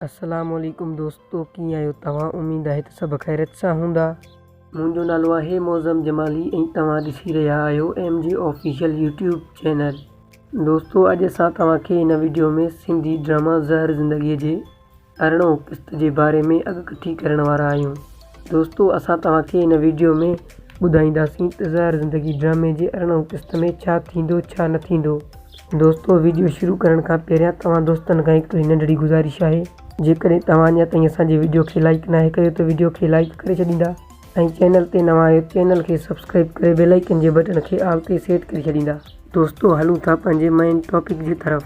السلام عليڪم دوستو ڪيئن آهيو توهان اميد آهي ته سڀ خيريت سان هوندا. منهنجو نالو آهي معظم جمالي ۽ توهان ڏسي رهيا آهيو M G official YouTube channel دوستو اڄ اسان توهان کي هن ويڊيو ۾ سنڌي ڊراما زهر زندگي جي ارڙهون قسط جي باري ۾ اڳڪٿي ڪرڻ وارا آهيون. دوستو اسان توهان کي هن ويڊيو ۾ ٻڌائينداسين ته زهر زندگي ڊرامي جي ارڙهن قسط ۾ ڇا ٿيندو ڇا نه ٿيندو. دوستو ويڊيو شروع ڪرڻ کان پهريان توهان دوستن کان هڪڙي ننڍڙي گذارش آهي جيڪڏهن توهان اڃا تائين اسان جي ويڊيو کي لائيڪ ناهي ڪيو ته ويڊيو کي لائيڪ ڪري ڇڏيندا ۽ چينل تي نوان آهيو چينل کي سبسڪرائيب ڪري بيل آئيڪن جي بٽڻ کي آل تي سيٽ ڪري ڇڏيندا. دوستو هلون ٿا پنهنجي مين ٽاپڪ جي طرف.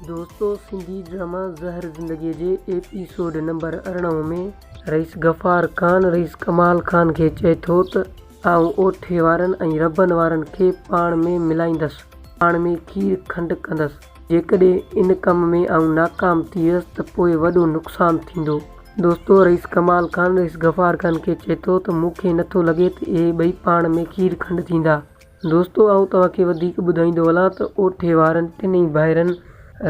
دوستو سنڌي ڊراما زهر زندگي جي ايپيسوڊ نمبر ارڙهن ۾ رئيس غفار خان رئيس ڪمال خان کي چئي ٿو ته آئون اوٺي وارن ۽ ربن وارن کي پاڻ ۾ ملائيندس، پاڻ ۾ کير کنڊ ڪندس، جيڪڏهن ان ڪم ۾ آئون ناڪام ٿي ويس ته پوء وڏو نقصان ٿيندو. دوستو رئيس ڪمال خان رئيس غفار خان کي چئي ٿو ته مون کي نٿو لڳي ته اهي ٻئي پاڻ ۾ کير کنڊ ٿيندا. دوستو آئون توهان کي وڌيڪ ٻڌائيندو هلان ته اوٺي وارن ٽنهي ڀائرن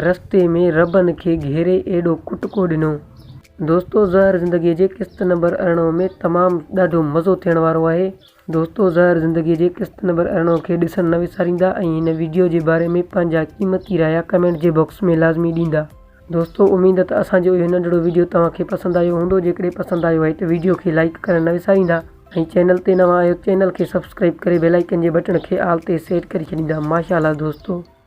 رستي ۾ ربن کي گهيري ايڏو ڪٽڪو ڏنو. دوستو زهر زندگيء جي قسط نمبر ارڙهن ۾ تمام ڏاڍو مزو ٿيڻ وارو آهي. دوستو زهر زندگيء جي قسط نمبر ارڙهن کي ڏسڻ نه وساريندا ۽ هن وڊيو جي باري ۾ پنهنجا قيمتي رايا ڪمينٽ جي باڪس ۾ لازمي ڏيندا. دوستو اميد ته اسان جو اهو ننڍڙو ويڊيو توهان کي پسند آيو هوندو جيڪڏهن پسند آيو آهي ته ويڊيو کي لائيڪ ڪرڻ نه وساريندا ۽ چينل تي نوان آهيو ته چينل کي سبسڪرائيب ڪري بيل آئيڪن جي بٽڻ کي آل تي سيٽ ڪري ڇڏيندا ماشاء الله دوستو.